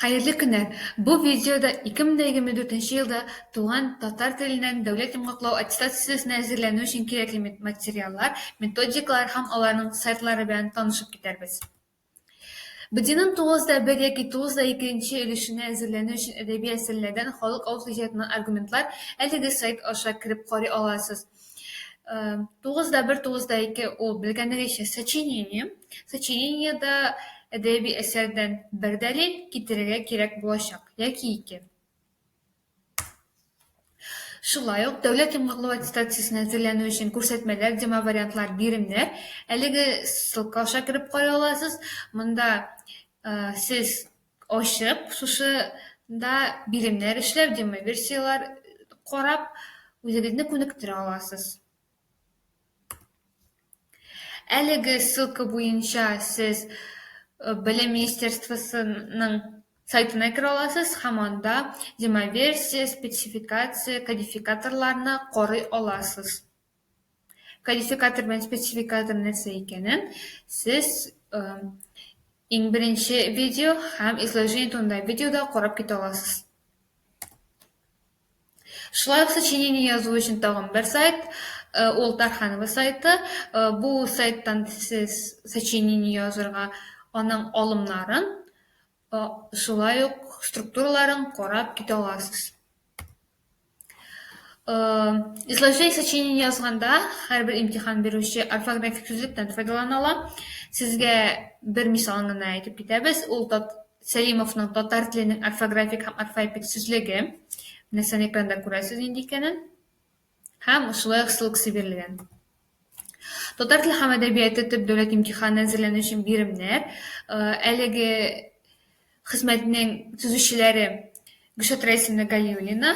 Хәерле көннәр! Бу видеода 2024 елда туган татар теленнән дәүләт йомгаклау аттестациясенә әзерләнү өчен кирәкле материаллар, методикалар һәм аларның сайтлары белән танышып китәрбез. БДИның 9 да 1 яки 9 да 2 нче өлешенә әзерләнү өчен әдәби әсәрләрдән, халык авыз иҗатыннан аргументлар әлеге сайт аша кереп карый аласыз. Тугызда бер, тугызда ике ул белгәнегезчә сочинение. Сочинениедә әдәби әсәрдән бер дәлил китерергә кирәк булачак яки ике. Шулай ук дәүләт йомгаклау аттестациясенә әзерләнү өчен күрсәтмәләр, демовариантлар, биремнәр. Әлеге ссылка аша кереп карый аласыз. Монда сез ачып, шушы да биремнәр эшләп, демоверсияләр карап, үзегезне күнектерә аласыз. Әлеге ссылка буенча сез Белем министерствосының сайтына керә аласыз һәм анда демоверсия, спецификация, кодификаторларны карый аласыз. Кодификатор белән спецификатор нәрсә икәнен сез э, иң беренче видео һәм изложение турында видеода карап китә аласыз. Шулай ук сочинение язу өчен тагын бер сайт, э, ул Тарханова сайты. Э, бу сайттан сез сочинение язырга, аның алымнарын, Шулай ук структураларын карап китә аласыз. Изложение сочинения язганда һәрбер имтихан бирүче орфографик сүзлектән файдалана ала. Сезгә бер мисалын гына әйтеп китәбез. Ул Сәлимовның татар теленең орфографик һәм орфоэпик сүзлеге. Менә сән экранда күрәсез нинди икәнен. Һәм шулай ук шул кеше бирелгән. Татар теле һәм әдәбияты төп дәүләт имтиханы әзерләнү өчен биремнәр. Э, әлеге хезмәтнең төзүчеләре Гөлшат Рәисовна Галиуллина,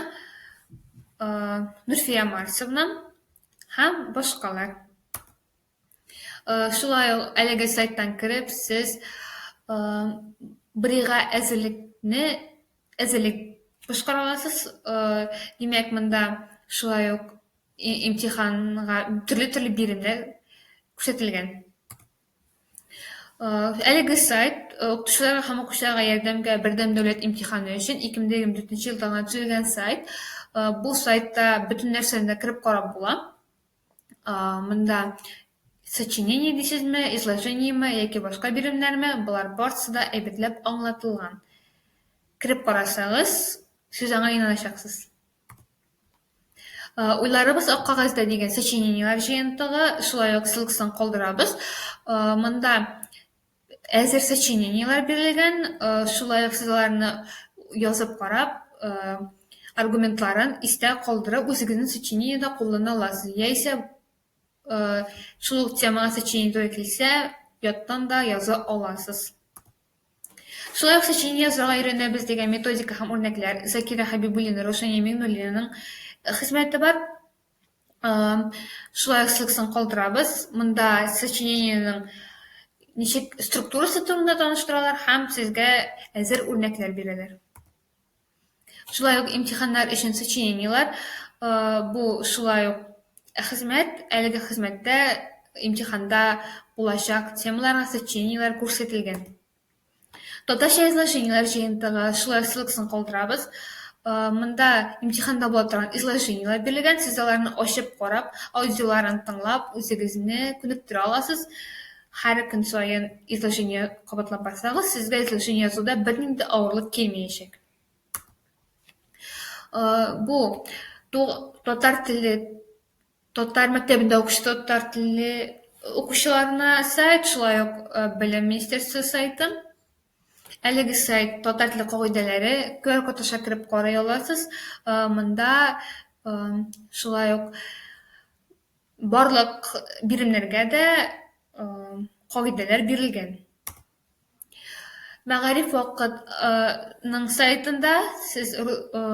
э, Нурфия Марсовна һәм башкалар. Шулай ук әлеге сайттан кереп, сез брига әзерлекне әзерлек башкара аласыз. Димәк, монда шулай ук имтиханга төрле-төрле биремнәр күрсәтелгән. Әлеге сайт укытучыларга һәм укучыларга ярдәмгә бердәм дәүләт имтиханы өчен 2024 елда гына төзелгән сайт. Бу сайтта бөтен нәрсәне дә кереп карап була. А, монда сочинение дисезме, изложениеме яки башка биремнәрме, болар барысы да әйбәтләп аңлатылган. Кереп карасагыз, сез аңа инаначаксыз. А, уйларыбыз ак кагазьдә дигән сочинениеләр җыентыгы, шулай ук ссылкасын калдырабыз. А, монда әзер сочинениеләр бирелгән, э, шулай ук сез аларны язып карап, э, аргументларын истә калдырып, үзегезнең сочинениедә куллана аласыз. Яисә, э, шул ук темага сочинение туры килсә, яттан да яза аласыз. Шулай ук сочинение язарга өйрәнәбез дигән методика һәм үрнәкләр Закира Хәбибуллина, Раушания Миңнуллинаның хезмәте бар. Шулай ссылкасын калдырабыз. Монда сочинениенең ничек структурасы турында таныштыралар һәм сезгә әзер үрнәкләр бирәләр. Шулай ук имтиханнар өчен сочинениеләр бу шулай ук хезмәт, әлеге хезмәттә имтиханда булачак темаларга сочинениеләр күрсәтелгән. Татарча изложениеләр җыентыгы, шулай ссылкасын калдырабыз. Э, монда имтиханда була торган изложениеләр бирелгән, сез аларны ачып карап, аудиоларын тыңлап, үзегезне күнектерә аласыз. Һәр көн саен изложение кабатлап барсагыз, сезгә изложение язуда бернинди авырлык килмәячәк. Э, бу ту- татар теле Татар мәктәбендә укучы татар телле укучыларына сайт, шулай ук Белем министерствы сайты. Әлеге сайт татар теле кагыйдәләре, QR-код аша кереп карый аласыз. Монда шулай ук барлык биремнәргә дә кагыйдәләр бирелгән. Мәгариф вакыт ы ның сайтында сез ру ы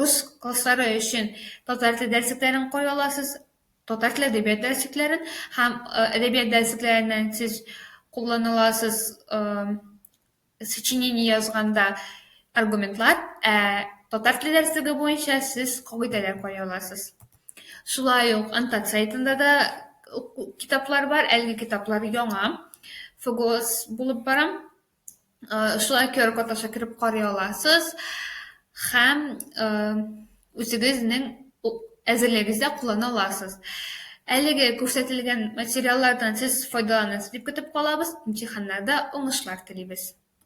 рус класслары өчен татар теле дәресләре карый аласыз, татар теле әдәбият дәресләре һәм әдәбият дәресләреннән сез куллана аласыз ы сочинение язганда аргументлар, ә татар теле дәреслеге буенча сез кагыйдәләр карый аласыз. Шулай ук Антак сайтында да уку- китаплар бар, әлеге китаплар яңа, ФГОС булып бара. Э, Шулай QR-код аша кереп карый аласыз һәм э, үзегезнең у- әзерлегегездә куллана аласыз. Әлеге күрсәтелгән материаллардан сез файдаланасыз дип көтеп калабыз, имтиханнарда уңышлар телибез.